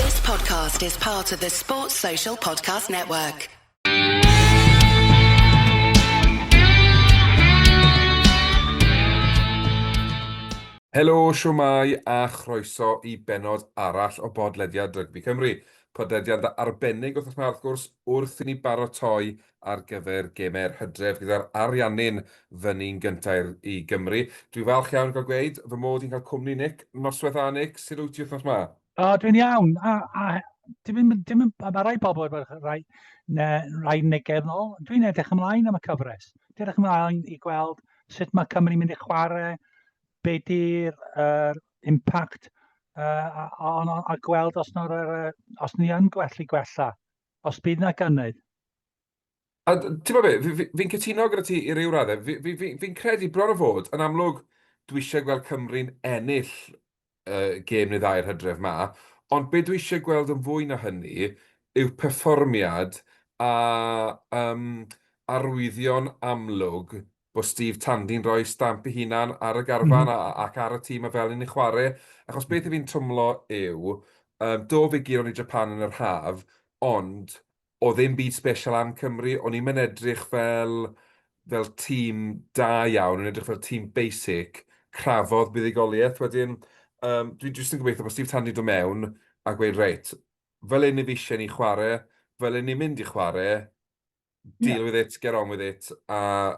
This podcast is part of the Sports Social Podcast Network. Helo, siwmai a chroeso i benod arall o bodlediad Rygbi Cymru. Podlediad arbennig wrth yma wrth gwrs wrth i ni barotoi ar gyfer gemau'r hydref gyda'r Ariannin fyny'n gyntaf i Gymru. Dwi'n falch iawn o gael gweud fy mod i'n cael cwmni Nick noswaith dda Nick, sut wyt ti wythnos ma? O, dwi'n iawn. A, a dim, dim, mae rai pobl wedi bod rai, ne, rai negeddol. yn ôl. Dwi'n edrych ymlaen am y cyfres. Dwi'n edrych ymlaen i gweld sut mae Cymru'n mynd i chwarae, be di'r uh, impact uh, a, a, a, gweld os, uh, os ni yn gwellu gwella Os bydd 'na gynnydd. A ti'n gwybod be, fi'n fi, fi cytuno gyda ti i ryw raddau. Fi'n fi, fi, fi credu bron o fod, yn amlwg, dwi eisiau gweld Cymru'n ennill uh, gêm neu ddau'r hydref ma, ond be dwi eisiau gweld yn fwy na hynny yw perfformiad a um, arwyddion amlwg bod Steve Tandy'n rhoi stamp ei hunan ar y garfan ac ar y tîm a fel ni'n ei chwarae, achos beth i fi'n twmlo yw, um, do fe giro ni Japan yn yr haf, ond o ddim byd special am Cymru, o'n i'n mynd edrych fel, fel tîm da iawn, o'n edrych fel tîm basic, crafodd buddigoliaeth wedyn, um, dwi'n jyst yn gobeithio bod Steve Tandy do mewn a gweud, reit, fel un i fi eisiau ni chwarae, fel un ni'n mynd i chwarae, deal yeah. with it, get on with it, a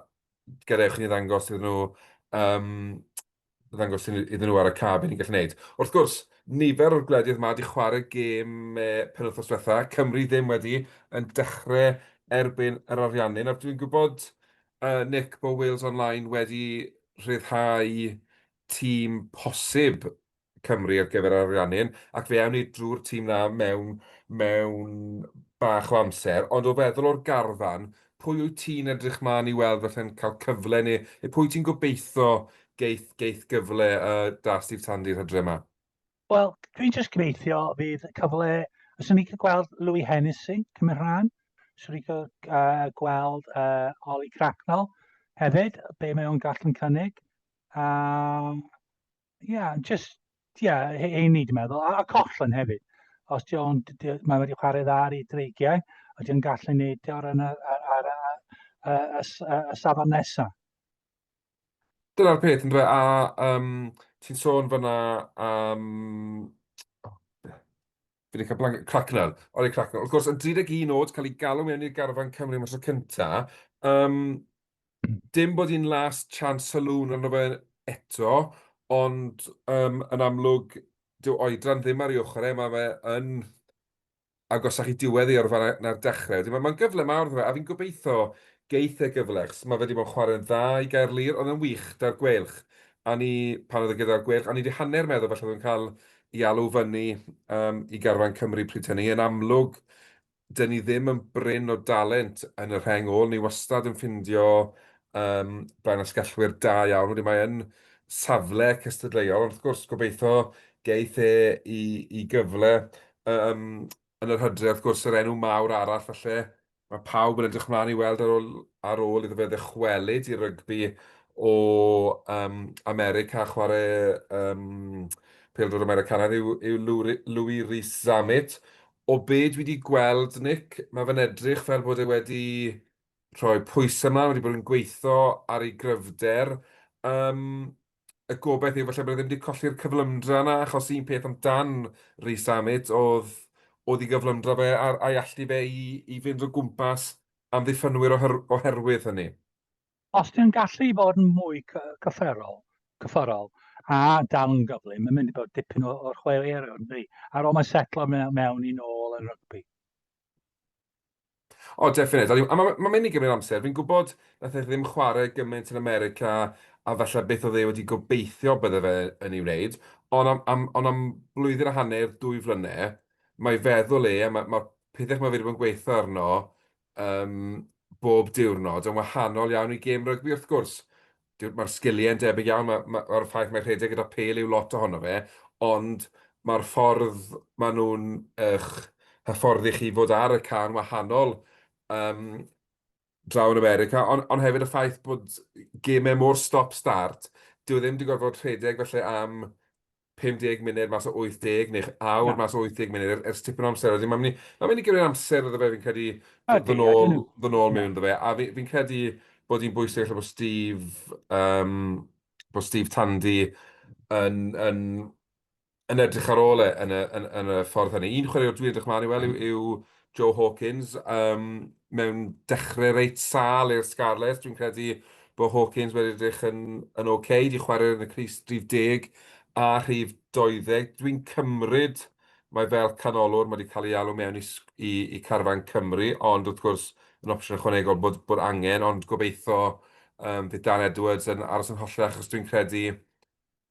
gadewch ni ddangos iddyn nhw, um, ddangos iddyn nhw ar y cab i ni'n gallu gwneud. Wrth gwrs, nifer o'r gwledydd yma wedi chwarae gêm e, penwthnos diwetha, Cymru ddim wedi yn dechrau erbyn yr ariannin, a dwi'n gwybod, uh, Nick, bod Wales Online wedi rhyddhau tîm posib Cymru ar gyfer ariannu hyn, ac fe awn ni drwy'r tîm 'na mewn mewn bach o amser, ond o feddwl o'r garfan, pwy wyt ti'n edrych mlaen i weld falle'n cael cyfle neu neu pwy ti'n gobeitho geith geith gyfle yy 'da Steve Tandy'r hydre 'ma? Wel, dwi'n jyst gobeithio fydd cyfle... Os o'n i'n cael gweld Louis Hennessy cymryd rhan, os o'n i'n cael uh, gweld uh, Ollie Cracknell hefyd, be mae o'n gallu'n cynnig. Um, Ia, jyst, ia, he- heini dwi'n meddwl, a, a Coughlin hefyd. Os di o'n, d- d- mae wedi chwarae dda ar ei dreigiau, a di o'n gallu neud o ar, yna- ar, ar, ar, ar, ar, y s- y- y safon nesaf. Dyna'r peth, yn dweud, a um, ti'n sôn fyna am... Fi wedi cael blanket Cracknell. Oli Cracknell. Wrth gwrs, yn 31 oed, cael ei galw mewn i'r garfan Cymru am y tro cynta. Um, dim bod hi'n last chance saloon arno fe eto, ond um, yn amlwg, dyw oedran ddim ar ei ochr e, mae fe yn agosach i diwedd ei orfa na'r dechrau. Mae'n ma gyfle mawr fe, a fi'n gobeithio geith e gyfle, achos mae fe wedi bod yn chwarae'n dda i gael lir, ond yn wych, da'r gwelch. A ni, pan oedd e gyda'r gwelch, a ni wedi hanner meddwl falle oedd yn cael i alw fyny um, i garfan Cymru pryd hynny. Yn amlwg, dyn ni ddim yn bryn o dalent yn y rheng ôl. Ni wastad yn ffindio um, blaen asgellwyr da iawn. Wedi mae yn safle cystadleuol, ond wrth gwrs gobeithio geith e i, i gyfle um, yn yr hydref, wrth gwrs, yr enw mawr arall falle, mae pawb yn edrych mlaen i weld ar ôl, ar ôl iddo fe ddychwelyd i rygbi o um, America, chwarae um, pildwr Americanaidd yw, yw Louis Rhys Zammit. O be dwi wedi gweld, Nick, mae fe'n edrych fel bod e wedi rhoi pwysau ymlaen, wedi bod yn gweithio ar ei gryfder. Um, y gobaith yw falle bod e ddim wedi colli'r cyflymdra yna, achos un peth amdan Rhys Zammit oedd, oedd i gyflymdra fe a'r a'i allu fe i, i fynd o gwmpas amddiffynwyr oher, oherwydd hynny. Os ti'n gallu bod yn mwy cyfforol, cyfforol a dal yn gyflym, mae'n mynd i bod dipyn o'r chwaraewyr, ynddi, ar ôl mae'n setlo mewn, mewn i'n ôl yn rygbi. O, definite. A mae ma mynd i gymryd amser. Fi'n gwybod nath e ddim chwarae gymaint yn America a falle beth oedd e wedi gobeithio bydde fe yn ei wneud. Ond am, am, on am blwyddyn a hanner, dwy flynedd, mae feddwl e, a mae'r ma, ma pethau mae wedi bod yn gweithio arno um, bob diwrnod yn wahanol iawn i gêm rygbi wrth gwrs. mae'r sgiliau yn debyg iawn, mae'r ma, ma ffaith mae rhedeg gyda pel yw lot ohono fe, ond mae'r ffordd maen nhw'n eich hyfforddi chi fod ar y can wahanol um, draw yn America, ond on hefyd y ffaith bod gemau mor stop-start, dyw e ddim wedi gorfod rhedeg felly am 50 munud mas o 80, neu'ch awr Na. mas o 80 munud, er, ers tipyn o amser wedyn. Mae'n mynd ma mynd i gymryd amser iddo fe, fi'n credu, ddod nôl, ddod nôl mewn iddo fe. A fi'n fi credu bod hi'n bwysig allan bod Steve, um, bod Steve Tandy yn, yn, yn edrych ar ôl e yn y, yn, yn y ffordd hynny. Un chwaraewr dwi'n edrych mlaen i weld yw, yw Joe Hawkins um, mewn dechrau reit sal i'r Scarlets. Dwi'n credu bod Hawkins wedi edrych yn, yn oce, okay. di chwarae yn y Cris drif deg a rhif 20. Dwi'n cymryd mae fel canolwr, mae wedi cael ei alw mewn i, i, i carfan Cymru, ond wrth gwrs yn opsiwn ychwanegol bod, bod angen, ond gobeithio um, bydd Dan Edwards yn aros yn hollach, achos dwi'n credu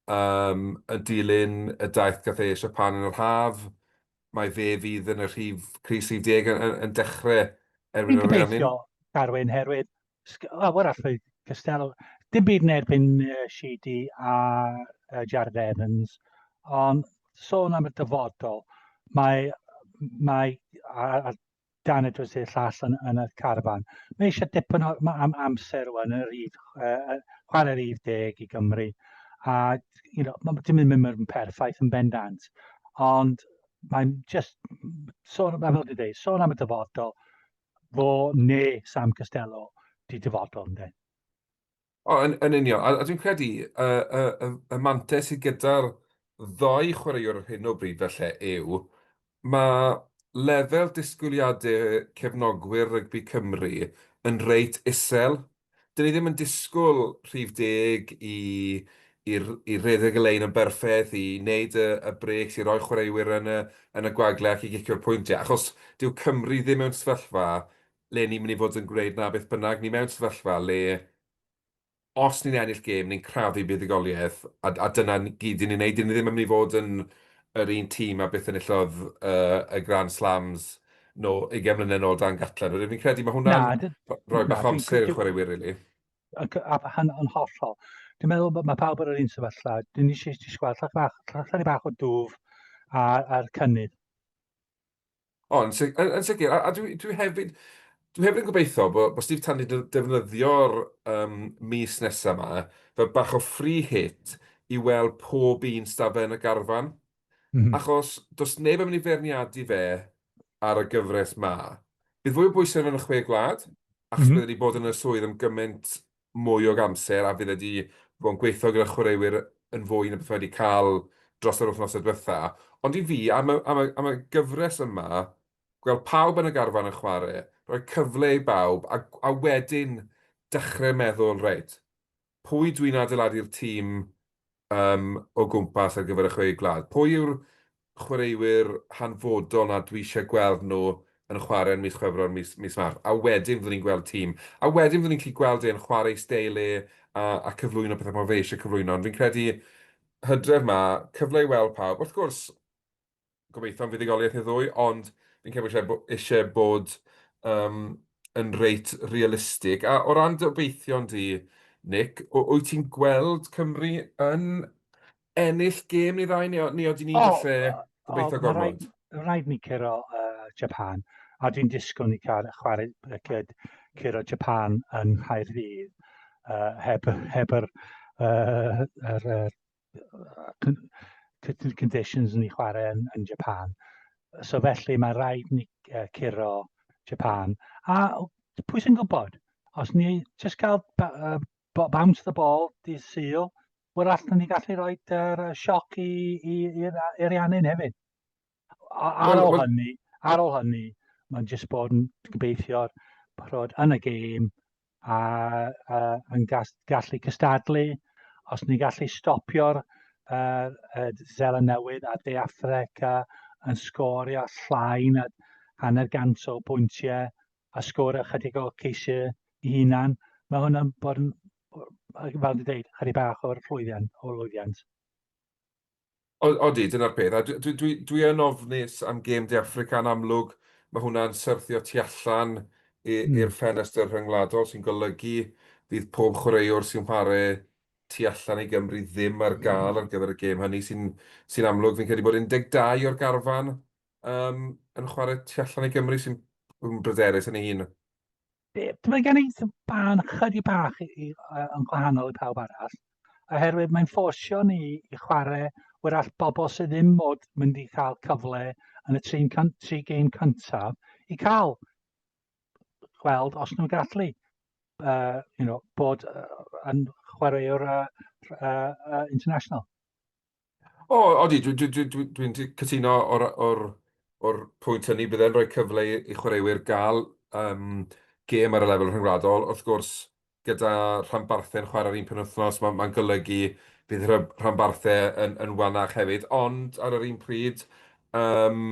Yym, yn dilyn y daith gath ei Siapan yn yr haf, mae fe fydd yn y rhif crys 30 yn yn yn dechre erbyn yr Ariannin. Dwi'n gobeithio, Carwyn, herwydd lawer allai Costello, dim byd yn erbyn Sheedy a Jarrod Evans, ond sôn am y dyfodol, mae, mae, a, a Dan y drws i'r llall yn, yn y carfan. Mae eisiau dipyn o am, amser rwan yn yr idd, uh, chwarae'r idd deg i Gymru. A you know, mae dim yn mynd yn perffaith yn bendant. Ond mae'n just, sôn, fel dwi'n dweud, sôn am y dyfodol, fo neu Sam Costello di dyfodol yn dweud. O, yn, yn union. A, a dwi'n credu y, y, y, y mantes sydd gyda'r ddau chwaraewr ar hyn o bryd felly yw, mae lefel disgwyliadau cefnogwyr rygbi Cymru yn reit isel. Dyn ni ddim yn disgwyl rhif deg i, i, i redeg y lein yn berffaith, i wneud y, y breaks, i roi chwaraewyr yn y, yn y gwagle ac i gicio'r pwyntiau, achos dyw Cymru ddim mewn sefyllfa le ni'n mynd i fod yn gwneud 'na beth bynnag, ni mewn sefyllfa le os ni'n ennill gêm, ni'n crafu buddugoliaeth, a, a dyna ni gyd ni'n ei wneud, 'dyn ni ddim yn mynd i fod yn yr un tîm a beth enillodd uh, y Grand Slams no, 20 mlynedd nôl dan Gatland. Rydyn ni'n credu mae hwnna'n rhoi bach o amser i'r chwaraewyr, rili. Really. Yn hollol. Dwi'n meddwl bod mae pawb ar yr un sefyllfa. Dwi'n ni eisiau gweld llach bach, llach bach o dwf a'r cynnydd. O, yn, sig yn, yn sicr. A, a dwi, dwi hefyd... Dwi hefyd yn gobeithio bod, bod Steve Tandy yn defnyddio'r um, mis nesaf yma fel bach o free hit i weld pob un stafell yn y garfan. Mm -hmm. Achos does neb yn mynd i ferniadu fe ar y gyfres ma. Bydd fwy o bwysau yn y chwe gwlad, achos mm -hmm. byddwn ni bod yn y swydd am gymaint mwy o amser a fydd e 'di bod yn gweithio gyda chwaraewyr yn fwy na beth mae 'di cael dros yr wythnosau diwetha'. Ond i fi, am y, am y, am y gyfres yma, gweld pawb yn y garfan yn chwarae, rhoi cyfle i bawb a, a wedyn dechrau meddwl, reit, pwy dwi'n adeiladu'r tîm yym o gwmpas ar gyfer y chwe gwlad. Pwy yw'r chwaraewyr hanfodol 'na dwi isie gweld nhw yn chwarae yn mis Chwefror, mis mis Mawrth? A wedyn fyddwn ni'n gweld tîm. A wedyn fyddwn ni'n gallu gweld e'n chwarae ei steil e a a cyflwyno pethau fel fe isie cyflwyno. Ond fi'n credu Hydref 'ma, cyfle i weld pawb. Wrth gwrs, gobeithio am fuddugoliaeth neu ddwy, ond fi'n credu bod eisiau, bo, eisiau bod um, yn reit realistig. A o ran dy obeithion di, Nick, wyt ti'n gweld Cymru yn ennill gêm neu ddau, neu, neu oedden ni'n oh, gallu gobeithio oh, gormod? Rhaid, rhaid ni curo uh, Japan, a dwi'n disgwyl ni cael chwarae briced curo Japan yn Nghaerdydd uh, heb, heb yr, uh, yr, yr certain conditions yn ei chwarae yn, yn Japan. So felly mae rhaid ni uh, curo Japan. A pwy sy'n gwybod? Os ni just cael uh, bounce the ball di syl, wel allan ni gallu rhoi uh, sioc i'r Ariannin hefyd. Ar ôl hynny, ar ôl hynny, mae'n jyst bod yn gobeithio bod yn y gêm a, a yn gallu cystadlu. Os ni'n gallu stopio'r uh, uh, Zela Newydd a De Affrica yn sgorio llai na hanner gant o bwyntiau a sgorio chydig o ceisiau i hunan, mae hwnna'n bod yn, fel dwi'n dweud, chydig bach o'r llwyddiant. O'r llwyddiant. Odi, dyna'r peth. A dwi, dwi, dwi yn ofnus am gêm De Affrica yn amlwg. Mae hwnna'n syrthio tu allan hmm. i'r ffenestr rhyngwladol sy'n golygu fydd pob chwaraewr sy'n chwarae tu allan i Gymru ddim ar gael ar gyfer y gêm hynny sy'n sy amlwg. Fi'n credu bod 12 o'r garfan um, yn chwarae tu allan i Gymru sy'n bryderus yn ei hun. Mae gen i sban chydig bach i, i, yn gwahanol i pawb arall, oherwydd mae'n ffosio ni i chwarae wrach bobl sydd ddim mod mynd i cael cyfle yn y trin tri gêm cyntaf i cael gweld os nhw'n gallu uh, you know, bod uh, yn chwaraewr uh, uh, uh, international. O, odi, dwi'n dwi, dwi, dwi, dwi, dwi cytuno o'r, or, or pwynt hynny. Bydd e'n rhoi cyfle i chwaraewyr gael um, gêm ar y lefel rhyngwladol. Wrth gwrs, gyda rhanbarthau'n chwarae'r un penwythnos, mae'n ma golygu bydd rhanbarthau yn, yn wanach hefyd. Ond ar yr un pryd, um,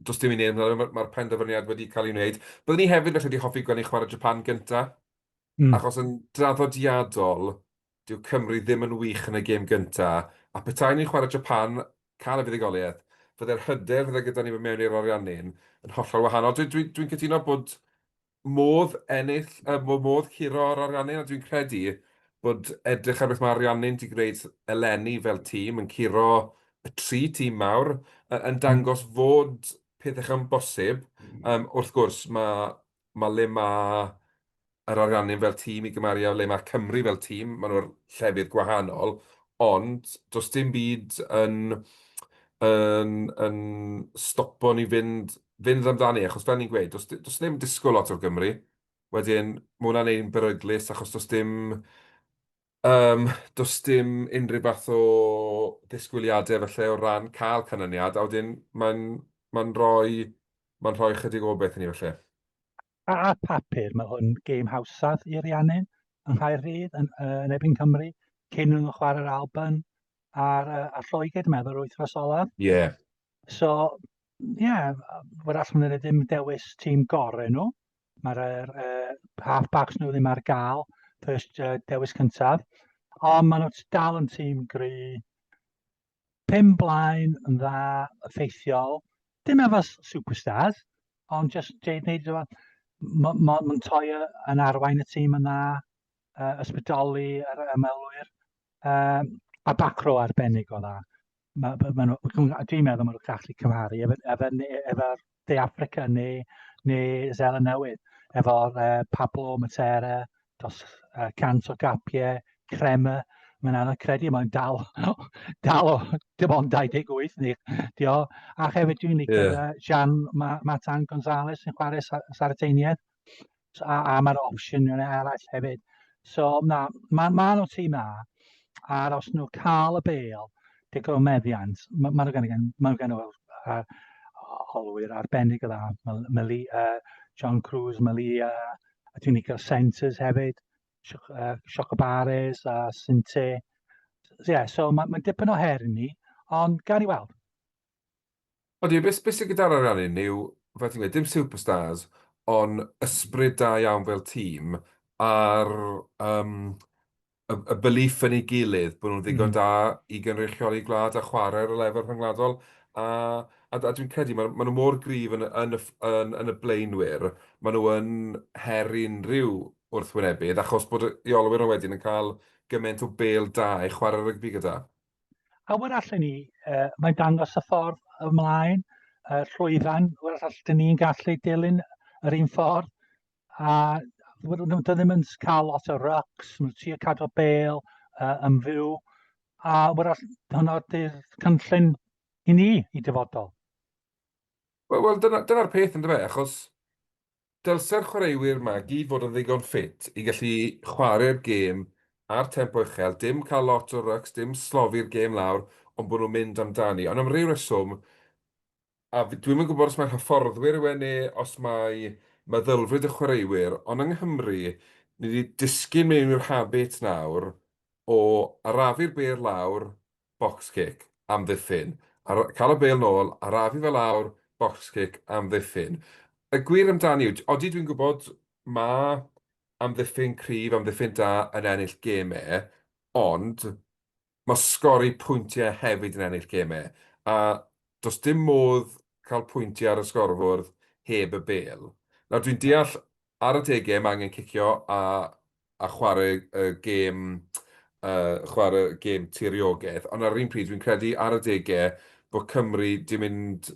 does dim i wneud, mae'r ma penderfyniad wedi cael ei wneud. Byddwn ni hefyd felly wedi hoffi gweld ni'n chwarae Japan gyntaf. achos yn draddodiadol, dyw Cymru ddim yn wych yn y gêm gyntaf, a petaen ni'n chwarae Japan, cael y fuddugoliaeth, fydde'r hyder fydde gyda ni mewn i'r Ariannin yn hollol wahanol. Dwi, dwi, dwi'n cytuno bod modd ennill, uh, modd curo yr Ariannin, a dwi'n credu bod edrych ar beth mae Ariannin wedi gwneud eleni fel tîm yn curo y tri tîm mawr, yn dangos fod pethau yn bosib. Um, wrth gwrs, mae mae le mae yr Ariannin fel tîm i gymaru â le mae Cymru fel tîm, maen nhw'r llefydd gwahanol, ond does dim byd yn yn yn stopo ni fynd fynd amdani, achos fel ni'n gweud, does does neb yn disgwyl lot o'r Gymru, wedyn mae hwnna'n ein beryglus achos does dim Yym, does dim unrhyw fath o ddisgwyliadau falle o ran cael canlyniad, a wedyn mae'n mae'n rhoi mae'n rhoi ychydig o beth i ni falle. A ar papur, mae hwn gêm hawsaf i Rhiannon yng Nghaerdydd yn, uh, yn ebyn Cymru, cyn nhw'n chwarae'r Alban a'r, uh, a'r Lloegr, dwi'n meddwl, yr wythnos olaf. Ie. Yeah. So, ie, yeah, wrach maen nhw ddim dewis tîm gorau nhw, mae'r er, er, half-backs nhw ddim ar gael, first uh, dewis cyntaf. Ond maen nhw'n dal yn tîm gry. Pum blaen yn dda, effeithiol. Dim efo superstars, ond just Jade Neid. Mae'n ma, ma toi yn arwain y tîm yn dda, uh, ysbrydoli yr ymwelwyr. Um, a bacro arbennig o dda. ma' ma' ma' nhw dwi'n meddwl ma' nhw'n gallu cymharu efo efo ne- efo'r De Affrica neu neu Seland Newydd efo'r yy Pablo Matera dros yy cant o gapiau crema mae'n anodd credu mae'n dal dal o dim ond 28 ni dio a hefyd dwi'n licio yeah. Jean Ma Matan Gonzalez yn chwarae Sardeiniaid So, a, a mae'r opsiynau eraill hefyd. So, na, mae ma nhw tîm na, a'r os nhw cael y bel, digon o meddiant, mae ma nhw gan, ma nhw gan o'r uh, holwyr arbennig o dda. Mali, uh, John Cruz, Malia, a dwi'n cael Centres hefyd, Siocobares uh, a Sinte. So, yeah, so mae ma dipyn o her i ni, ond gael i weld. Odi, be sy'n gyda'r ariannin yw, fel ti'n gweud, dim superstars, ond ysbryd da iawn fel tîm, a'r yym y y belief yn ei gilydd bod nhw'n ddigon da i gynrychioli gwlad a chwarae ar y lefel rhyngwladol, a a a dwi'n credu ma' ma' nhw mor gryf yn y yn y ff- yn yn y blaenwyr, ma' nhw yn her i unrhyw wrthwynebydd, achos bod y rheolwyr nhw wedyn yn cael gymaint o bêl da i chwarae rygbi gyda. A wer allan ni, uh, mae'n dangos y ffordd ymlaen, uh, llwyfan, wer allan ni'n gallu dilyn yr un ffordd, a wer nhw ddim yn cael lot o rucks, mae'n trio cadw bel uh, yn fyw, a wer allan hwnna dy'r cynllun i ni, i dyfodol. Wel, well, dyna'r dyna peth yn dweud, achos Dylse'r chwaraewyr 'ma gyd fod yn ddigon ffit i gallu chwarae'r gêm ar tempo uchel, dim cael lot o rycs, dim slofi'r gêm lawr, ond bod nhw'n mynd amdani. Ond am ryw reswm, a dwi'm yn gwybod os mai'r hyfforddwyr yw e neu os mai meddylfryd y chwaraewyr, ond yng Nghymru, ni 'di disgyn mewn i'r habit nawr o arafu'r bêl lawr box kick, amddiffyn, a cael y bêl nôl, arafu fe lawr, box kick, amddiffyn. Y gwir amdani yw, odi dwi'n gwybod mae amddiffyn cryf, amddiffyn da yn ennill gemau, ond mae sgori pwyntiau hefyd yn ennill gemau, a does dim modd cael pwyntiau ar y sgorfwrdd heb y bêl. Nawr dwi'n deall ar adegau mae angen cicio a a chwarae y gêm chwarae y gêm tiriogaeth, ond ar yr un pryd fi'n credu ar adegau bod Cymru di mynd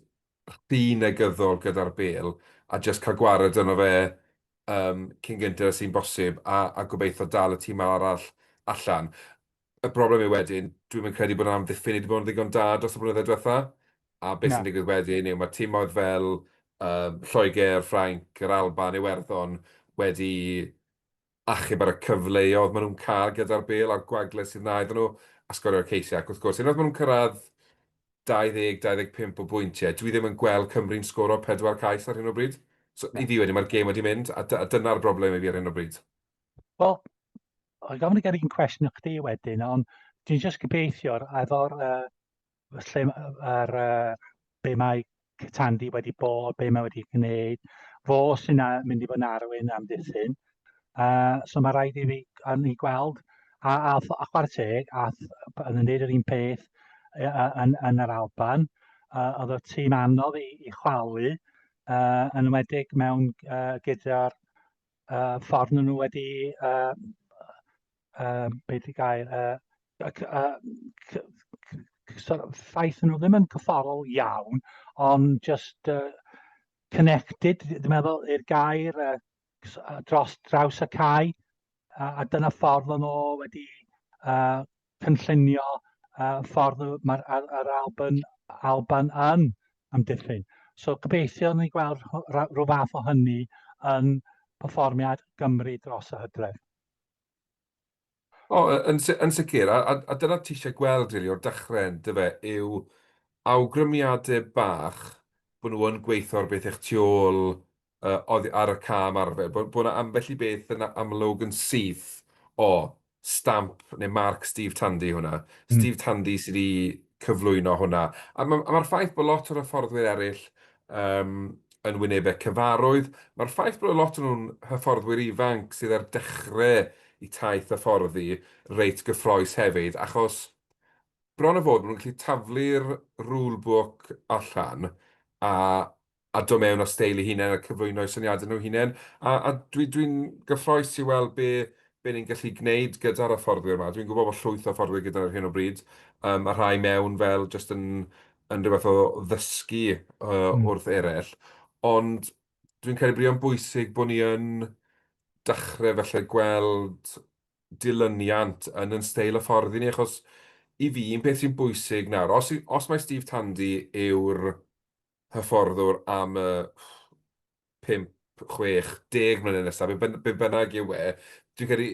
rhy negyddol gyda'r bêl a jyst cael gwared yno fe cyn gynted â sy'n bosib a gobeithio dal y tîm arall allan. y broblem yw wedyn, dwi'm yn credu bod amddiffyn ni wedi bod yn ddigon da dros y blynyddoedd diwetha', a beth sy'n digwydd wedyn yw mae timoedd fel um, Lloegr, Ffrainc, yr Alban, Iwerddon wedi achub ar y cyfleoedd maen nhw'n cael gyda'r bel a'r gwagle sydd na iddyn nhw a sgorio'r ceisiau. Ac wrth gwrs, unwaith maen nhw'n cyrraedd 20-25 o bwyntiau, dwi ddim yn gweld Cymru'n sgoro pedwar cais ar hyn o bryd. So, i fi wedi, mae'r gêm wedi mynd, a, a dyna'r broblem i fi ar hyn o bryd. Wel, O'n gofyn i gael un cwestiwn i chdi wedyn, ond dwi'n just gobeithio efo'r uh, lle ar uh, be mae Cytandi wedi bod, be mae wedi gwneud, fo sy'n mynd i fod yn arwyn am ddiffyn. Uh, so mae rhaid i fi yn ei gweld, a, a, a chwarae teg, a yn yn neud yr un peth yn, yn yr Alban, uh, oedd y tîm anodd i, i chwalu, uh, yn ymwedig mewn uh, gyda'r uh, ffordd nhw wedi, uh, uh, beth i gael, uh, uh, sort of ffaith nhw ddim yn cyfforol iawn, ond just uh, connected, dwi'n meddwl, i'r gair uh, dros draws y cae, a, a dyna ffordd o'n nhw wedi uh, cynllunio y ffordd mae'r yr Alban, Alban yn amddiffyn. So gobeithio ni gweld rhyw fath o hynny yn perfformiad Gymru dros y hydref. O, yn, yn sicr, a, a, a dyna ti eisiau gweld rili o'r dechrau yn dy fe, yw awgrymiadau bach bod nhw yn gweithio ar beth eich tu ôl oddi ar y cam arfer, bod yna ambell i beth yn amlwg yn syth, o, stamp neu marc Steve Tandy hwnna, Steve Tandy sydd wedi cyflwyno hwnna. A mae'r ffaith bod lot o'r hyfforddwyr eraill yn wynebau cyfarwydd, mae'r ffaith bod lot o'n nhw'n hyfforddwyr ifanc sydd ar dechrau eu taith hyfforddi reit gyffrous hefyd, achos bron a bod maen nhw'n gallu taflu'r rulebook allan a a dod mewn â steil eu hunain a cyflwyno eu syniadau nhw hunain, a, a dwi, dwi'n gyffroes i weld be, be ni'n gallu gwneud gyda'r hyfforddwyr yma. Dwi'n gwybod bod llwyth o hyfforddwyr gyda ar hyn o bryd, um, a rhai mewn fel jyst yn, yn rhywbeth o ddysgu uh, mm. wrth eraill, ond dwi'n credu bod o'n bwysig bod ni yn dechrau felly gweld dilyniant yn yn steil y ffordd i ni, achos i fi, un peth sy'n bwysig nawr, os, os mae Steve Tandy yw'r hyfforddwr am y 5, 60 mlynedd nesaf, be be bynnag yw e, dwi'n credu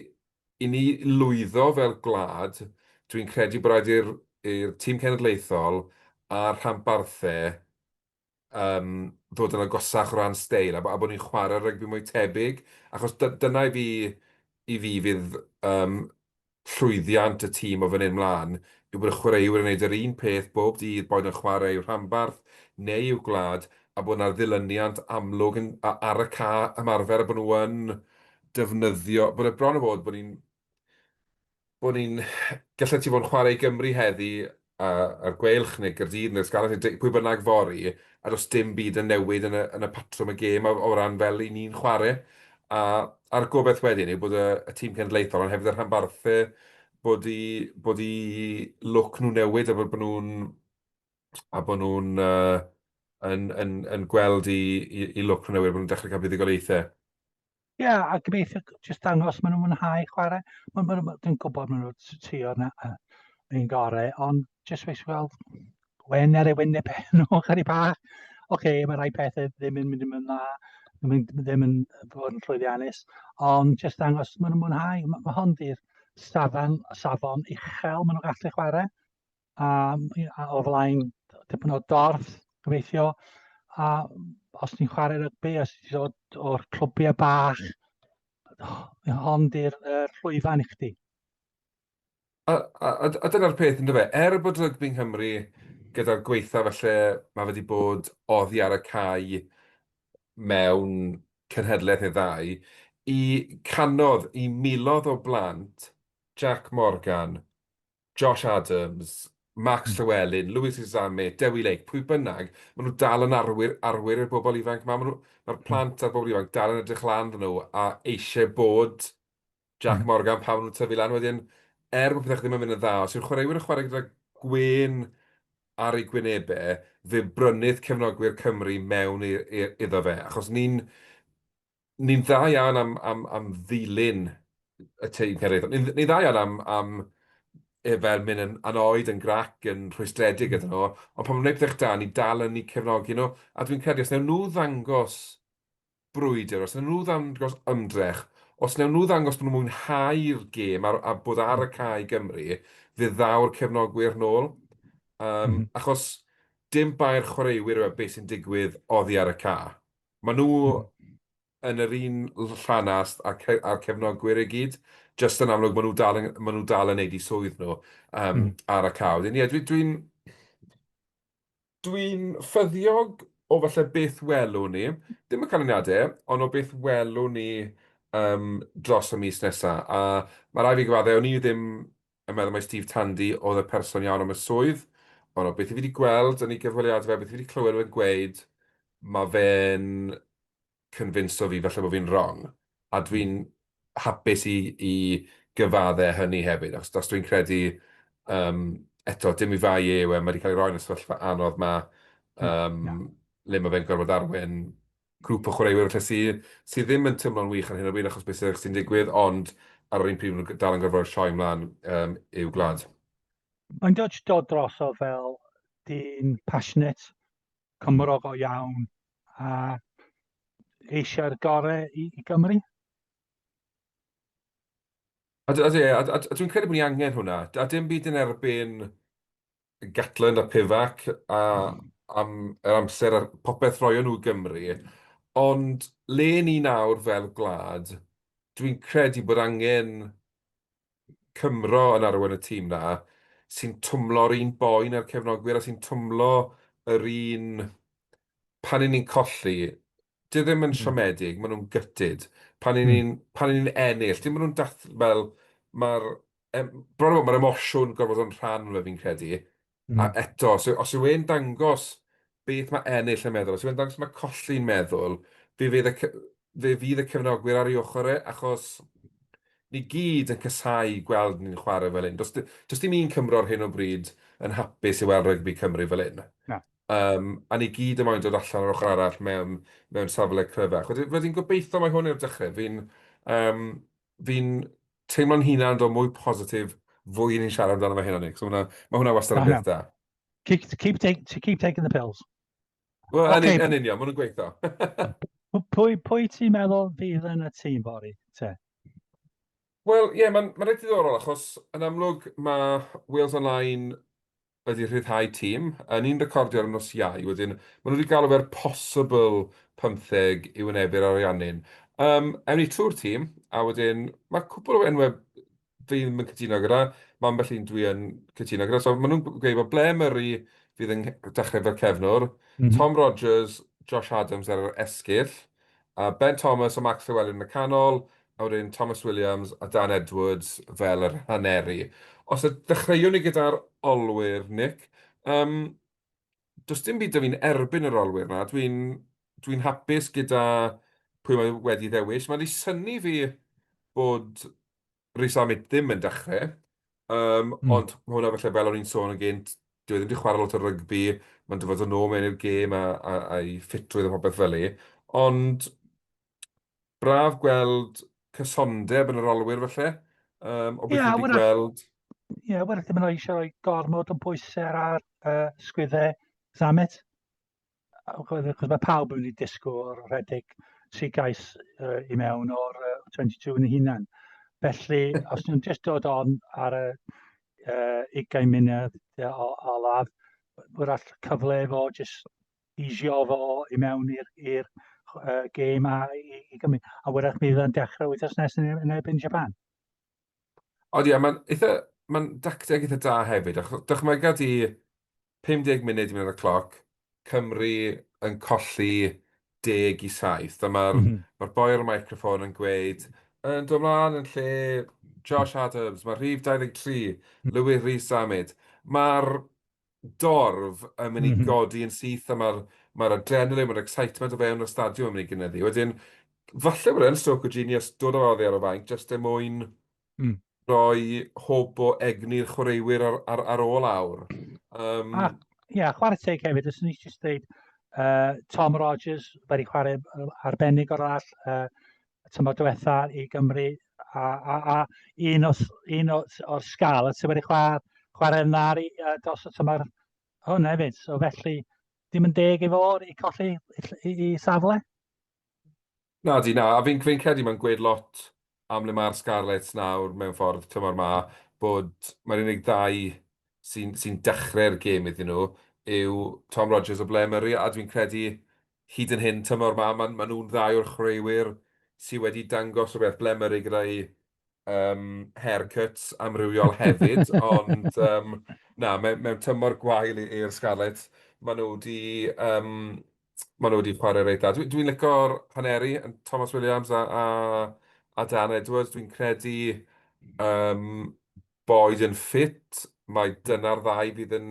i ni lwyddo fel gwlad, dwi'n credu bod rhaid i'r i'r tîm cenedlaethol a'r rhanbarthau um, ddod yn agosach o ran steil a, a bod ni'n chwarae rygbi mwy tebyg, achos dyna i fi, i fi fydd um, Llwyddiant y tîm o fan hyn 'mlaen yw bod y chwaraewyr yn gwneud yr un peth bob dydd, boed yn chwarae i'w rhanbarth neu i'w gwlad, a bod 'na ddilyniant amlwg yn ar y ca ymarfer a bod nhw yn defnyddio, bod e bron a bod bod ni'n bod ni'n gallet ti fod yn chwarae i Gymru heddi a'r Gweilch neu Gaerdydd neu'r Scarlets neu pwy bynnag fory, a does dim byd yn newid yn y, yn y patrwm y gêm o, o ran fel i ni'n chwarae. A, a'r gobeith wedyn yw bod y, y tîm cenedlaethol, ond hefyd y rhanbarthau, bod i, bod i look nhw newid a bod, bod nhw'n a bod nhw'n uh, yn, yn, yn gweld i, i, i look nhw newid, bod nhw'n dechrau cael buddugoliaethau. Ie, yeah, a gobeithio jyst dangos maen nhw'n mwynhau chwarae. Maen nhw, ma, dwi'n gwybod maen nhw'n trio na, uh, yn gorau, ond jyst weis weld wen ar ei wyneb pen nhw, chari bach. Oce, okay, mae rhai pethau ddim yn mynd yn dda, ddim yn, ddim yn fod yn llwyddiannus, ond jyst dangos maen nhw'n mwynhau. Mae ma hon di'r safon, safon uchel maen nhw'n gallu chwarae. a, a o flaen dipyn o dorf, gobeithio. A os ti'n chwarae rygbi, os ti'n dod o'r clwbiau bach, hon di'r er llwyfan i chdi. A, a, a, a dyna'r peth yn dyfa, er bod rygbi yng Nghymru gyda'r gweitha felly mae wedi bod oddi ar y cae mewn cynhedlaeth neu ddau, i canodd i milodd o blant Jack Morgan Josh Adams, Max Llewellyn, Louis Izame, Dewi Lake, pwy bynnag, maen nhw dal yn arwyr, arwyr i'r bobl ifanc yma. Mae'r ma hmm. plant a'r bobl ifanc dal yn edrych lan ddyn nhw a eisiau bod Jack hmm. Morgan pan nhw'n tyfu lan. Wedyn, er bod pethau ddim yn mynd yn dda, os yw'r chwaraewyr yn chwarae gyda gwyn ar ei gwynebau, fe brynydd cefnogwyr Cymru mewn iddo fe. Achos ni'n ni'n dda iawn am, am, am ddilyn y teithiorydd. Ni'n ni dda iawn am, am e, fel mynd yn anoed, yn grac, yn rhwystredig ydyn nhw, ond pan mae'n gwneud pethau da, ni dal yn ni cefnogi nhw, a dwi'n credu os newn nhw ddangos brwydr, os newn nhw ddangos ymdrech, os newn nhw ddangos bod nhw'n mwynhau'r gêm a, a bod ar y cae Gymru, fe ddaw'r cefnogwyr nôl. Um, mm -hmm. Achos dim bai'r chwaraewyr yw e beth sy'n digwydd oddi ar y ca. Maen nhw yn yr un llanast â'r ce- â'r cefnogwyr i gyd, jyst yn amlwg maen nhw dal yn maen nhw dal yn neud eu swydd nhw yym Mm. ar y cau. Wedyn ie dwi dwi'n dwi'n ffyddiog o falle beth welwn ni, dim y canlyniadau, ond o beth welwn ni yym dros y mis nesa. A ma' raid fi gyfaddau, o'n i ddim a meddwl mai Steve Tandy oedd y person iawn am y swydd, ond o beth i fi 'di gweld yn ei gyfweliadau, o beth i fi 'di clywed o fe'n gweud, ma' fe'n cynfinso fi falle bo' fi'n wrong, a dwi'n hapus i i gyfadde hynny hefyd, achos os dwi'n credu, yym, eto, dim 'i fai e yw e, ma' 'di cael ei roi yn y sefyllfa anodd 'ma, yym, le ma' fe'n gorfod arwain grŵp o chwaraewyr falle sy sy ddim yn teimlo'n wych ar hyn o bryd achos beth sy'n sy'n digwydd, ond ar yr un pryd maen nhw dal yn gorfod rhoi sioe mlaen um, i'w gwlad. Mae'n dod dod droso fel dyn passionate, cymro go iawn a eisiau'r gorau i, i Gymru. A, a, a, a, a dwi'n credu bod ni angen hwnna. A dim byd yn erbyn Gatland a Pivac a am yr amser a popeth rhoion nhw i Gymru, ond le ni nawr fel gwlad, dwi'n credu bod angen Cymro yn arwain y tîm 'na, sy'n twmlo'r un boen â'r cefnogwyr a sy'n twmlo yr un... pan 'yn ni'n colli, dyw e ddim yn siomedig, maen nhw'n gutted, pan 'yn ni'n ennill, dim bod nhw'n dath- fel, ma'r Yym, bron a bod, mae'r emosiwn gorfod yn rhan fe fi'n credu. Mm. A eto, os, os yw e'n dangos beth mae ennill yn meddwl, os yw e'n dangos mae colli'n meddwl, fe fydd y, fe fydd y cefnogwyr ar ei ochr e, achos ni gyd yn casau gweld ni'n chwarae fel hyn. Does, does dim un Cymro ar hyn o bryd yn hapus i weld rygbi Cymru fel hyn. Na. Um, a ni gyd yn moyn dod allan ar ochr arall mewn, mewn safle cryfach. Wedyn, wedyn gobeithio mae hwn i'r dechrau. Fi'n um, Fi'n teimlo'n hunan fel mwy positif fwy i ni'n siarad amdano fe hyn o Nick. So mae hwnna wastad yn beth da. Keep, keep, take, keep taking the pills. Wel, okay. yn, yn union, maen nhw'n gweithio. pwy, pwy ti'n meddwl fydd yn y tîm fori te? Wel, ie, yeah, mae'n ma rhaid i ddorol, achos yn amlwg mae Wales Online wedi rhyddhau tîm, yn un recordio ar y nos Iau, wedyn maen nhw wedi galw fe'r possible pymtheg i wynebu'r Ariannin. Um, ewn ni trwy'r tîm, a wedyn mae cwpl o enwau fi ddim yn cytuno gyda, mae ambell un dwi yn cytuno gyda. So maen nhw'n gweud bod Blair Murray fydd yn dechrau fel cefnwr, mm -hmm. Tom Rogers, Josh Adams ar yr esgyll, Ben Thomas a Mark Llewelyn yn y canol, a wedyn Tomos Williams a Dan Edwards fel yr haneri. Os y dechreuwn ni gyda'r olwyr, Nick, um, does dim byd da fi'n erbyn yr olwyr na, dwi'n dwi hapus gyda pwy mae wedi ddewis. Mae'n ei syni fi bod Rhys Amit ddim yn dechrau, um, mm. ond mae hwnna felly fel o'n i'n sôn yn gynt, dwi e ddim wedi chwarae lot o rygbi, mae'n dyfod yn ôl mewn i'r gêm a, a, a'i ffitrwydd a popeth fel ei. Ond braf gweld cysondeb yn yr olwyr felly, um, o beth yeah, wedi gweld. Ie, yeah, wel, ddim yn eisiau rhoi gormod yn bwysau ar uh, sgwyddau Zamet. achos mae pawb yn mynd i disgwyl o'r rhedeg sy'n gais uh, i mewn o'r uh, 22 yn ei hunan. Felly, os nhw'n just dod on ar y uh, 20 munud o, o ladd, wrach cyfle fo just eisio fo i mewn i'r uh, gêm a i, i Gymru. A wrach bydd yn dechrau wythnos nes yn erbyn Japan. Ond ie, mae'n eitha... mae'n dacteg eitha da hefyd, achos dychmyga di 50 munud i mynd ar y cloc, Cymru yn colli deg i saith, a mae'r mm -hmm. ma boi ar y microffon yn gweud, yn dod mlaen yn lle Josh Adams, mae rhif 23, Louis Rhys Ahmed. Mae'r dorf yn mynd i mhm. godi yn syth a mae'r mae adrenaline, mae'r excitement o fewn y stadiwm yn mynd i gynyddu. Wedyn, falle bod e'n stroke o genius dod o'r oddi ar y fainc jyst er mwyn mm. rhoi hwb o egni'r chwaraewyr ar, ar, ar ôl awr. Um, a, ia, chwarae teg hefyd, os ni eisiau dweud, uh, Tom Rogers wedi chwarae arbennig o'r all, uh, y tymor diwetha i Gymru a, a, a un, os, un os, o'r sgal y ti wedi chwarae, chwarae yna ar, uh, dros y tymor hwn hefyd. So felly, dim yn deg i fo i colli i, i, i safle? Na di, na. A fi'n fi credu mae'n gweud lot am le mae'r Scarlets nawr mewn ffordd tymor ma, bod mae'r unig ddau sy'n sy dechrau'r gêm iddyn nhw yw Tom Rogers a Blair Murray, a dwi'n credu hyd yn hyn tymor 'ma, maen maen nhw'n ddau o'r chwaraewyr sydd wedi dangos rhywbeth blemerig gyda'i um, haircuts amrywiol hefyd, ond um, na, mewn, mewn tymor gwael i'r Scarlets, maen nhw wedi um, maen nhw wedi chwarae reit dda. Dwi'n dwi licor haneri, Thomas Williams a, a, a Dan Edwards. Dwi'n credu um, boed yn ffit, mae dyna'r ddau fydd yn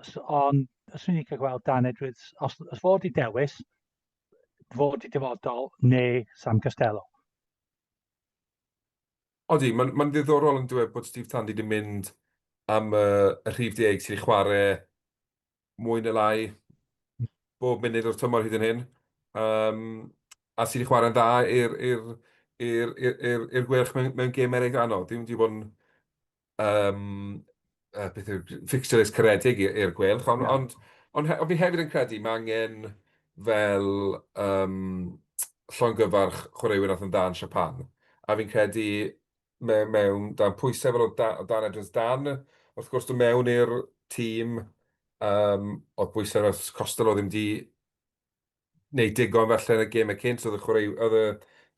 Os, ond, os ni'n cael gweld Dan Edwards, os, os fod i dewis, fod i dyfodol neu Sam Costello. Odi, mae'n ma ddiddorol yn dweud bod Steve Tandy wedi mynd am y, y rhif deg sy'n chwarae mwy neu lai bob munud o'r tymor hyd yn hyn. Um, a sy'n chwarae'n dda i'r gwerch mewn, mewn gêm eraill anodd. Dwi'n wedi bod yn um, uh, beth yw, fixtures caredig i'r gwelch, ond, yeah. ond, ond, ond fi hefyd yn credu mae angen fel um, llongyfarch chwaraewyr oedd yn dan Siapan. A fi'n credu mewn, mewn dan pwysau fel o, da, o dan Edwards dan, wrth gwrs, dwi'n mewn i'r tîm um, oedd bwysau fel Costello ddim di wneud digon falle yn y gêmau cynt, oedd y chwarae- oedd y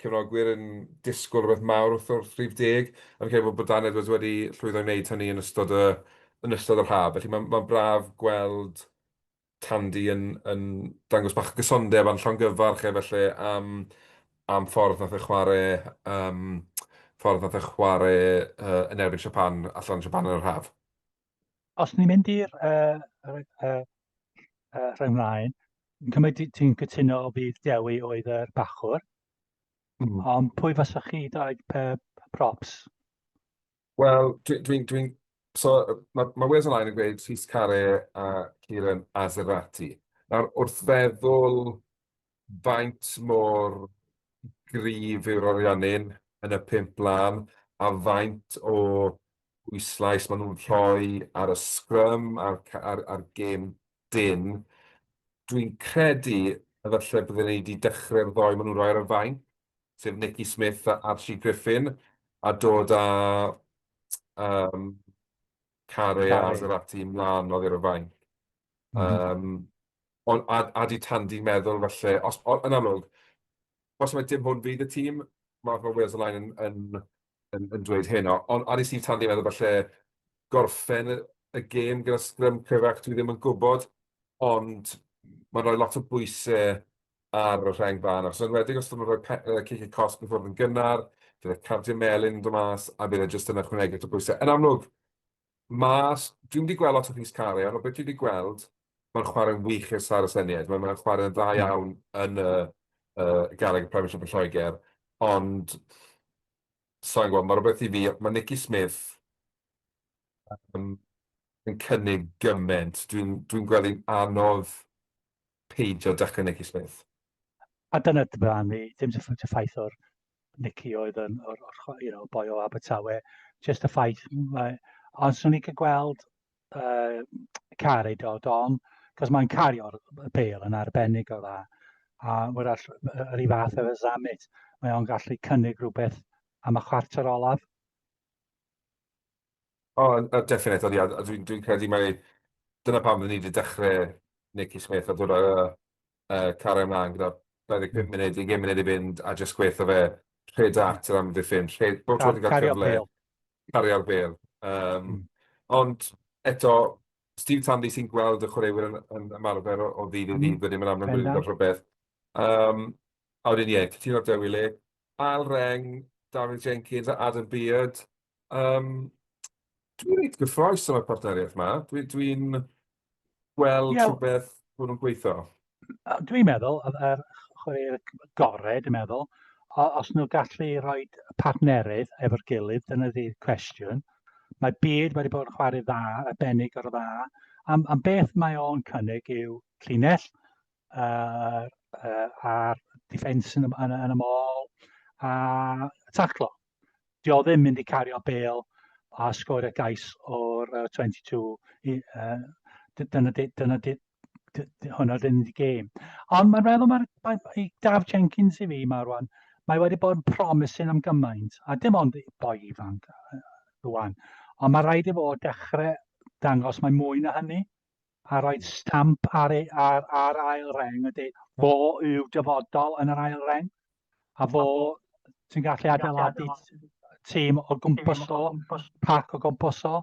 cefnogwyr yn disgwyl rhywbeth mawr wrth wrth rhif deg, a fi'n credu bod bod Dan Edwards wedi llwyddo i wneud hynny yn ystod y yn ystod yr haf, felly mae'n mae'n braf gweld Tandy yn yn dangos bach o gysondeb a'n llongyfarch e falle am am ffordd wnaeth e chwarae yym ffordd wnaeth e chwarae yy yn erbyn Japan allan yn Japan yn yr haf. Os ni'n mynd i'r uh, uh, uh, uh, rhai mlaen, yn cymryd ti'n cytuno o fydd Dewi oedd yr bachwr, mm. ond pwy fasa chi dau props? Wel, dwi'n... Dwi, dwi, so, mae ma Wales Online yn gweud Rhys Care a Kieran Azerati. Nawr, wrth feddwl faint mor gryf yw'r orionyn yn y pump blaen a faint o bwyslais maen nhw'n rhoi ar y scrum a'r gêm dyn. Dwi'n credu efallai bydden ni wedi dechrau'r ddoi maen nhw'n rhoi ar y fainc, sef Nicky Smith a Archie Griffin, a dod â um, Care a Zarati mlaen oddi ar y fainc. Um, Ond a a 'di Tandi'n meddwl falle os o- yn amlwg os mai dim hwn fydd y tîm ma' ma' Wales Online yn yn yn yn dweud hyn o- ond a 'di Steve Tandi'n meddwl falle gorffen y y gêm gyda sgrym cryfach dwi ddim yn gwbod ond ma'n rhoi lot o bwyse ar y rheng fân achos yn enwedig os 'dyn nw'n rhoi pe- yy cicie cosb i ffwrdd yn gynnar fydd y cardiau melyn yn do' mas a bydd e jyst yn ychwanegu at y pwyse yn amlwg Mas, dwi'm wedi gweld lot o Rhys Carian, ond beth dwi wedi gweld, mae'n chwarae'n wych i'r Star Aseniaid. Mae'n mae chwarae'n dda iawn yn y uh, garreg y Premiership yn Lloegr, ond sa'n gwybod, mae rhywbeth i fi, mae Nicky Smith um, yn cynnig gymaint. Dwi'n dwi, dwi gweld hi'n anodd peidio dachynegu Smith. A dyna dy barn i, dim jyst y ffaith o'r Nicky oedd yn, o'r, or, you know, boi o Abertawe, jyst y ffaith, mae, ond swn i cael gweld uh, car ei dod on, cos mae'n cario'r bel yn arbennig o dda, a mae'r all, yr i fath efo Zammit, mae o'n gallu cynnig rhywbeth am y chwarter olaf. O, yy definate, ond ia, a dwi'n dwi'n credu mai dyna pam dan ni wedi dechrau Nakey Smith a dod â yy Cara ymlaen gyda 25 munud, 20 munud i fynd a jyst gweud 'tho fe, rhed at yr amddiffyn, rhed, bob tro ti'n cael cyfle... Cario'r bêl. ...cario'r bêl. Yym, ond eto, Steve Tandy sy'n gweld y chwaraewyr yn yn ymarfer o ddydd i ddydd wedyn, mae'n amlwg bod e wedi gweld rhywbeth. Yym, a wedyn ie, cytuno 'da Dewi le, Al Reng, David Jenkins a Adam Beard. Um, dwi'n reit gyffroes o'r partneriaeth yma. Dwi'n dwi, dwi gweld yeah. rhywbeth bod nhw'n gweithio. Dwi'n meddwl, yr chwaraewyr gorau, dwi'n meddwl, os nhw gallu rhoi partnerydd efo'r gilydd, dyna di cwestiwn. Mae byd wedi bod yn chwarae dda, arbennig o'r dda. Am, am beth mae o'n cynnig yw llinell, yy yy a'r defence yn y yn y mall a taclo. Dio ddim mynd i cario bel a sgorio gais o'r uh, 22 i, uh, dyna dyna hwnna dyn ni gêm. Ond mae'n meddwl mae'r mae, i Daf Jenkins i fi mae rwan, mae wedi bod yn promising am gymaint, a dim ond boi ifanc rwan, ond mae rhaid i fod dechrau dangos mae mwy na hynny. a roedd stamp ar ei ar ar ail reng ydy fo yw dyfodol yn yr ail reng a fo ti'n gallu adeiladu tîm o gwmpas o pac o gwmpas o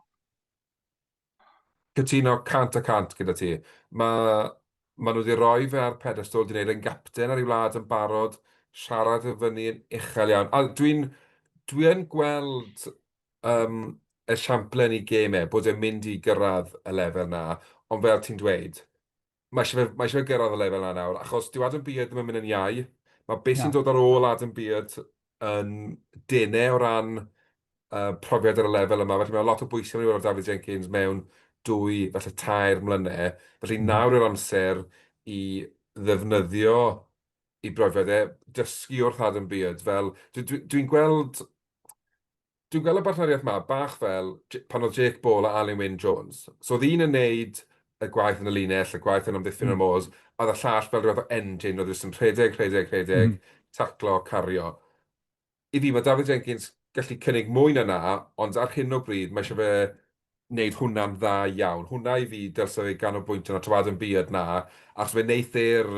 Cytuno 100 y 100 gyda ti. Mae maen nhw wedi rhoi fe ar pedestol, wedi gwneud e'n gapten ar ei wlad yn barod, siarad yn fyny yn uchel iawn. A dwi'n dwi yn gweld um, esiamplau yn ei gêm e, bod e'n mynd i gyrraedd y lefel na, ond fel ti'n dweud, mae eisiau fe, mae eisiau fe gyrraedd y lefel na nawr, achos dyw Adam Beard ddim yn mynd yn iau, mae beth sy'n dod ar ôl Adam Beard yn denau o ran uh, profiad ar y lefel yma, felly mae lot o bwysau yn ei weld David Jenkins mewn dwy, falle tair mlynedd, felly mm. nawr yw'r amser i ddefnyddio i brofiad e, dysgu wrth Adam Beard, fel dwi'n dwi, dwi gweld Dwi'n gweld y bartneriaeth 'ma bach fel pan oedd Jake Ball a Alun Wyn Jones. So oedd un yn neud y gwaith yn y linell, y gwaith yn amddiffyn y môs, a oedd y llall fel rhywbeth o engine, oedd e jyst yn rhedeg, rhedeg, rhedeg, taclo, cario. I fi, mae Dafydd Jenkins gallu cynnig mwy na 'na, ond ar hyn o bryd, mae eisiau fe wneud hwnna'n dda iawn. Hwnna i fi dylse fe ganolbwyntio arno, tawadu yn buodd 'na, achos fe wneith e'r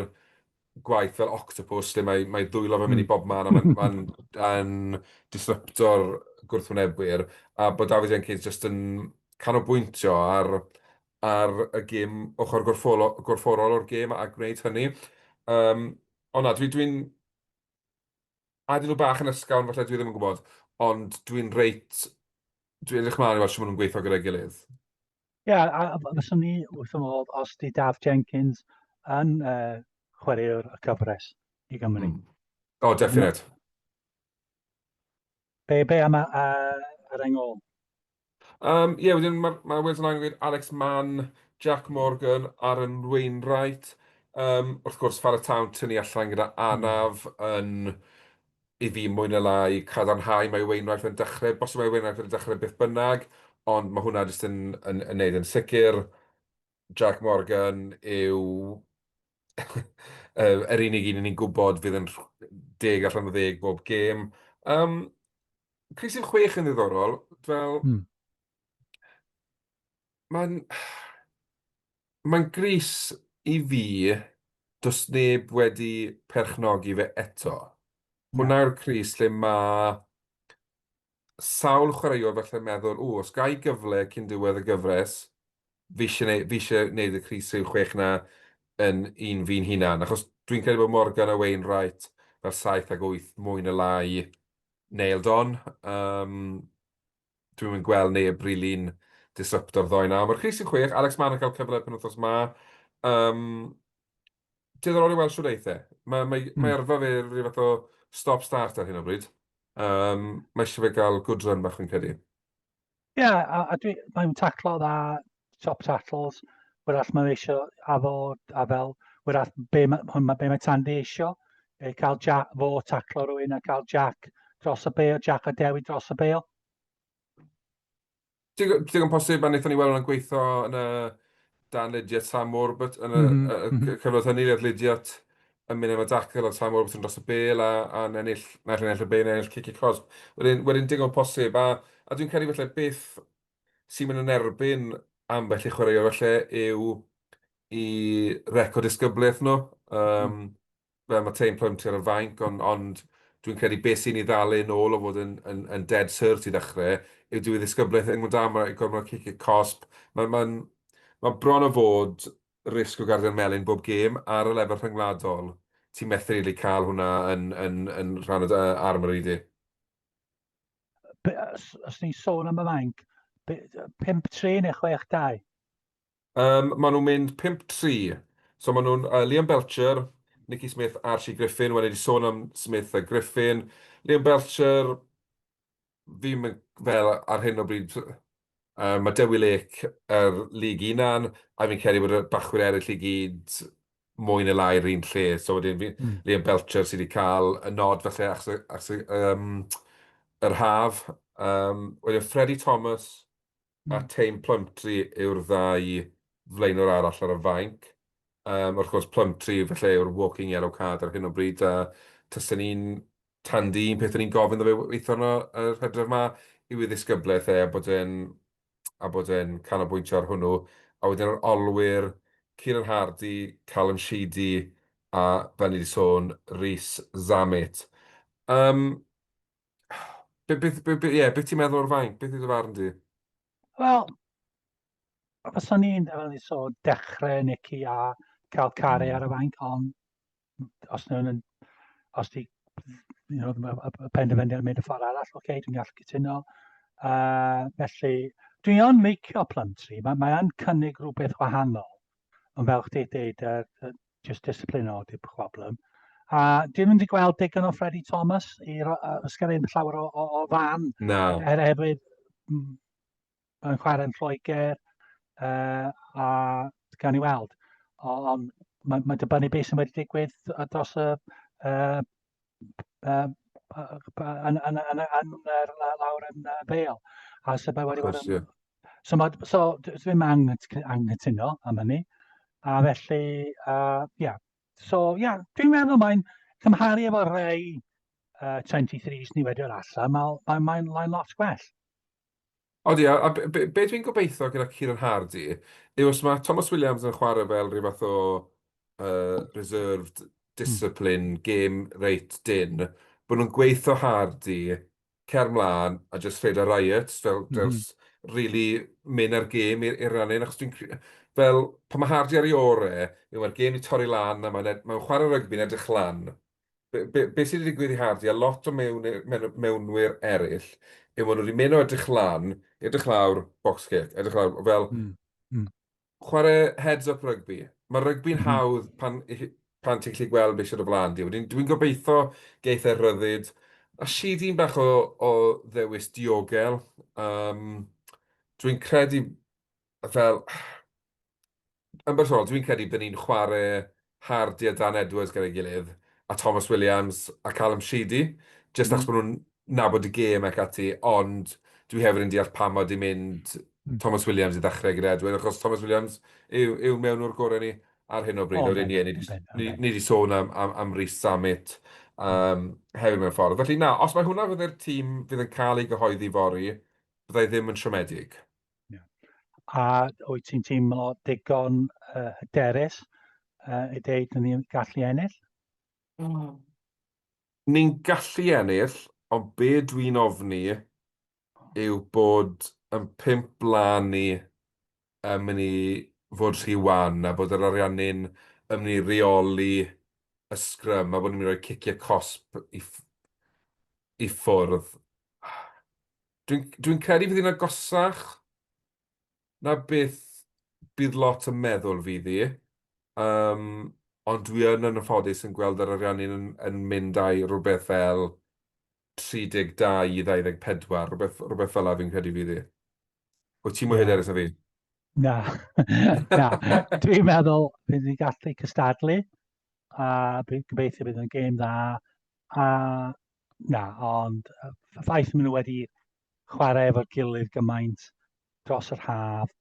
gwaith fel octopus lle mae mae dwylo fe'n mynd i hmm. bob man a mae'n ma yn disrupto'r gwrthwynebwyr a bod David Jenkins jyst yn canolbwyntio ar ar y gêm ochr gorffolo- gorfforol o'r gêm a gwneud hynny. Um, ond na, dwi'n dwi A dyn nhw bach yn ysgawn, falle dwi ddim yn gwybod, ond dwi'n reit, dwi'n edrych mlaen i weld sy'n maen nhw'n gweithio gyda'i gilydd. Ie, yeah, a, a fyswn ni wrth y modd os di Daf Jenkins yn uh, chwaraewr y cyfres i Gymru. Mm. O, oh, definite. Be, be am y, uh, ar engol? Yym, ie, wedyn ma' ma' Wales Online yn gwneud Alex Mann, Jack Morgan, Aaron Wainwright, yym, wrth gwrs, Fara Town tynnu allan gyda anaf yn, i fi, mwy na lai, cadarnhau mae Wainwright yn dechrau, bosib mae Wainwright yn dechrau beth bynnag, ond mae hwnna jyst yn yn yn wneud yn sicr. Jac Morgan yw yr unig un ni'n gwybod fydd yn deg allan o ddeg bob gêm. Um, Cris yn chwech yn ddiddorol, fel... Hmm. Mae'n... Mae'n gris i fi, does neb wedi perchnogi fe eto. Hwna'r cris lle mae sawl chwaraewr falle'n meddwl, ww, os gai gyfle cyn diwedd y gyfres, fi eisiau neud, fi eisiau neud y crys yw chwech na yn un fi'n hunan. Achos dwi'n credu bod Morgan a Wayne Wright fel saith ag wyth mwy na lai nailed on. Um, dwi'n mynd gweld neb rili'n disrupto'r ddoe na. Mae'r crys yw chwech, Alex Mann yn cael cyfle pen wythnos ma. Um, Diddorol i weld shwt eith e. Mae, mae, mm. mae arfa fe rhyw fath o stop-start ar hyn o bryd. Um, mae eisiau fe gael good run bach fi'n credu. Ie, yeah, a, a dwi, mae'n taclo dda, top tackles, wrach mae eisiau a fo, a fel, wrach be, hwn, be mae Tandy eisiau, e, cael Jack, fo taclo rwy'n a cael Jack dros y beil, Jack a Dewi dros y beil. Digon, digon posib, a wnaethon ni weld hwnna'n gweithio yn y dan Lydiat Samwr, but yn y, mm -hmm. y cyfnod hynny, oedd Lydiat yn mynd am y dacl a Samwr beth yn dros y bel a, a ennill, naill ennill y bel, ennill cic y cosb. Wedyn, wedyn digon posib, a, a dwi'n credu felly beth sy'n mynd yn erbyn ambell i chwaraewr felly yw i record disgyblaeth nhw. Um, mm. fel mae Teim Poynter yn fainc, ond, ond dwi'n credu beth sy'n ei ddal e'n ôl o fod yn, yn, yn dead cert i ddechrau, yw dyw ei ddisgyblaeth yn gwneud am y gormod o ciciau cosb. Mae'n ma ma bron o fod risg o gardyn melyn bob gêm ar y lefel rhyngwladol. Ti'n methu rili really cael hwnna yn, yn, yn rhan o dy armory di. Os ti'n sôn am y fainc, 5-3 neu 6-2? Yym, maen nhw'n mynd pump tri. So maen nhw'n yy Liam Belcher, Nicky Smith, Archie Griffin. Wel, ni 'di sôn am Smith a Griffin. Liam Belcher, fi'm yn fel ar hyn o bryd yy ma' Dewi Lake yr League Unan, a fi'n credu bod y bachwyr eraill i gyd mwy ne' lai yr un lle. So wedyn fi- Mm. Liam Belcher sy 'di ca'l y nod falle achos y achos y yym yr haf. Yym, wedyn Freddie Thomas, a Tayne Plumtree yw'r ddau flaenwr arall ar y fainc. Um, wrth gwrs, Plumtree felly yw'r walking yellow card ar hyn o bryd, a tysen ni'n tandi un peth o'n i'n gofyn ddo fe weithio yno yr hydref yma yw ei ddisgyblaeth e, a bod e'n a bod e'n canolbwyntio ar hwnnw. A wedyn yr olwyr, Kieran Hardy, Callum Sheedy, a fel ni wedi sôn, Rhys Zammit. Um, Be, be, be, be, yeah, be ti'n meddwl o'r fainc? Beth yw dy farn di? Wel, os o'n i'n fel ni so dechrau Nicky a cael caru ar y fainc, ond os nhw'n yn, os di, you know, y penderfyniad yn mynd y ffordd arall, oce, okay, dwi'n gallu cytuno. Uh, felly, dwi'n o'n meicio plantri, mae, mae o'n cynnig rhywbeth wahanol. Ond fel chdi dweud, uh, just disciplino di'r problem. A dwi ddim wedi gweld digon o Freddie Thomas i ysgrifennu llawer o, o, o fan. No. Er hefyd, mae'n chwarae'n Lloegr, uh, a gan i weld. Ond mae, mae dibynnu beth sy'n wedi digwydd dros y uh, um, yn, yn, yn, yn, yn lawr yn uh, Bale. A so mae wedi bod yn... So, mae, so ddim anghytuno am hynny. A felly, uh, yeah. So, yeah, dwi'n meddwl mae'n cymharu efo rhai uh, 23 ni wedi o'r allan, mae'n mae, mae, mae lot gwell. Odi, a, a be, be dwi'n gobeithio gyda Kieran Hardy yw os mae Thomas Williams yn chwarae fel rhyw fath o uh, reserved hmm. discipline, mm. game rate din, bod nhw'n gweithio Hardy, cer mlaen a just fed a riot, fel, mm. fel hmm. really mynd ar gêm i'r rannu, achos dwi'n fel, pan mae Hardy ar ei ore, yw mae'r gêm i torri lan, a mae'n mae chwarae rygbi'n edrych lan, be, be, be sydd wedi digwydd i Hardy a lot o mewn, mewn, mewnwyr eraill yw maen nhw wedi mynd o edrych lan, edrych lawr, box kick, edrych lawr, fel mm. Mm. chwarae heads up rygbi. Mae rygbi'n mm. hawdd pan, pan ti'n gallu gweld beth sydd o flaen di. Dwi'n dwi gobeithio geith e'r rhyddid. A si di'n bach o, o ddewis diogel. Um, dwi'n credu fel, yn bersonol, dwi'n credu byddwn ni'n chwarae Hardy a Dan Edwards gyda'i gilydd, a Thomas Williams a Callum Sheedy, jyst achos bod nhw'n nabod y gêm ac ati, ond dwi hefyd yn deall pam mod i'n mynd Thomas Williams i ddechrau gyda Edwards, achos Thomas Williams yw, yw mewn o'r gorau ni ar hyn o bryd, o'r un ni, ni wedi sôn am, am, am Rhys Samet um, hefyd mewn ffordd. Felly na, os mae hwnna fydde'r tîm fydd yn cael ei gyhoeddi fori, byddai ddim yn siomedig. Yeah. A wyt ti'n teimlo digon uh, hyderus uh, i ddeud yn ni'n gallu ennill? Mm. Ni'n gallu ennill, ond be dwi'n ofni yw bod yn pimp blaen ni yn mynd i fod rhy wan a bod yr ariannu'n yn mynd i reoli y sgrym a bod ni'n mynd i roi ciciau cosp i, i ffwrdd. Dwi'n dwi credu fydd hi'n agosach na beth bydd lot yn meddwl fydd hi. Um, ond dwi yn yn ffodus yn gweld yr ariannu'n yn, yn mynd â'i rhywbeth fel 32 i 24, rhywbeth, rhywbeth fel la fi'n credu fydd hi. O ti'n mwy yeah. hyderus na fi? Na, na. Dwi'n meddwl bydd ni'n gallu cystadlu a bydd gobeithio bydd yn gêm dda a Na, ond y ffaith maen nhw wedi chwarae efo'r gilydd gymaint dros yr haf,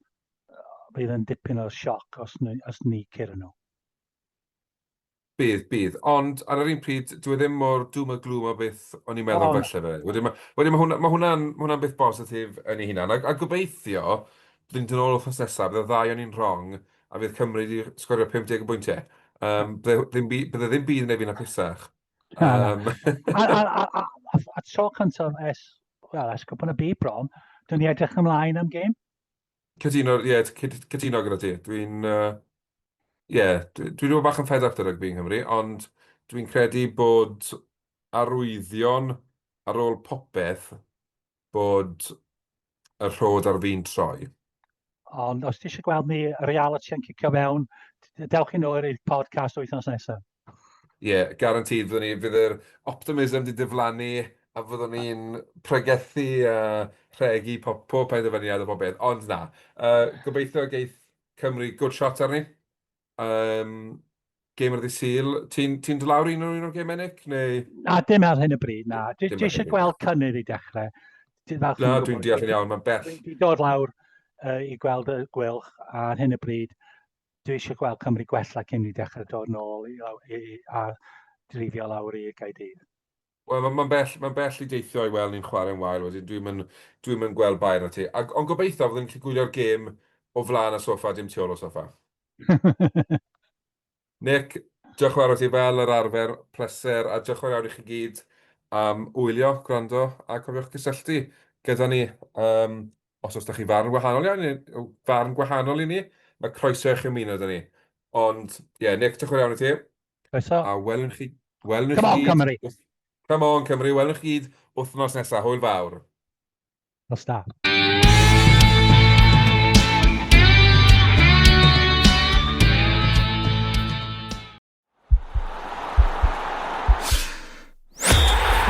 bydd yn dipyn o sioc os, os ni cyr nhw. Bydd, bydd. Ond ar yr un pryd, dwi e ddim mor dŵm y glwm o beth o'n i'n meddwl oh. felly fe. Wedyn mae, wedyn mae hwnna, ma hwnna, ma hwnna beth bositif yn ei hunan. A, a gobeithio, byddwn ni'n ôl wrth nesaf, bydd y ddau o'n i'n wrong, a fydd Cymru wedi sgorio 50 o bwyntiau. Um, bydde, ddim, bydde ddim byd yn ei fi'n apusach. Um... a, a, a, a, a, a tro cyntaf es, wel, es gwybod y byd bron, dwi'n ni edrych ymlaen am gêm. Cytuno, ie, yeah, cytuno gyda ti. Dwi'n, ie, uh, yeah, dwi'n dwi, dwi bach yn fed up dy rygbi yng Nghymru, ond dwi'n credu bod arwyddion ar ôl popeth Bod y rhod ar fin troi. Ond os ti eisiau gweld ni reality yn cicio fewn, dewch i nôl i'r podcast wythnos nesaf. Ie, yeah, garantid, fyddwn ni, fydd yr optimism di diflannu a fyddwn ni'n pregethu a rhegi pob, pob penderfyniad a pob beth. Ond na, uh, gobeithio geith Cymru good shot arni. Um, gamer ddi syl. Ti'n ti dod lawr un o'r un o'r gemau, Nick? Neu... Na, dim ar hyn y bryd, na. Dwi eisiau gweld cynnydd i dechrau. Na, dwi'n deall yn iawn, mae'n bell. Dwi'n dod lawr uh, i gweld y gwylch ar hyn y bryd. Dwi eisiau gweld Cymru gwella cyn i dechrau dod nôl i, i, i, a drifio lawr i Gaerdydd. Wel, mae'n ma bell, ma bell i deithio i weld ni'n chwarae'n wael wedyn. Dwi'n mynd, dwi mynd gweld Bayern na ti. Ac, ond gobeithio fydden ni'n gallu gwylio'r gêm o flaen y sofa, dim tu ôl o sofa. Nick, diolch yn fawr o ti fel yr arfer, pleser, a diolch yn fawr i chi gyd am wylio, gwrando, a cofiwch gysylltu gyda ni. Um, os oes da chi farn wahanol iawn, farn gwahanol i ni, mae croeso i chi ymuno da ni. Ond, ie, yeah, Nick, diolch yn fawr i ti. Croeso. A welwn chi... Welwn chi... Come on, Cymru! Come on, Cymru! Welwn chi gyd wythnos nesaf. Hwyl fawr. Nos da.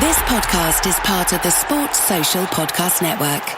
This podcast is part of the Sports Social Podcast Network.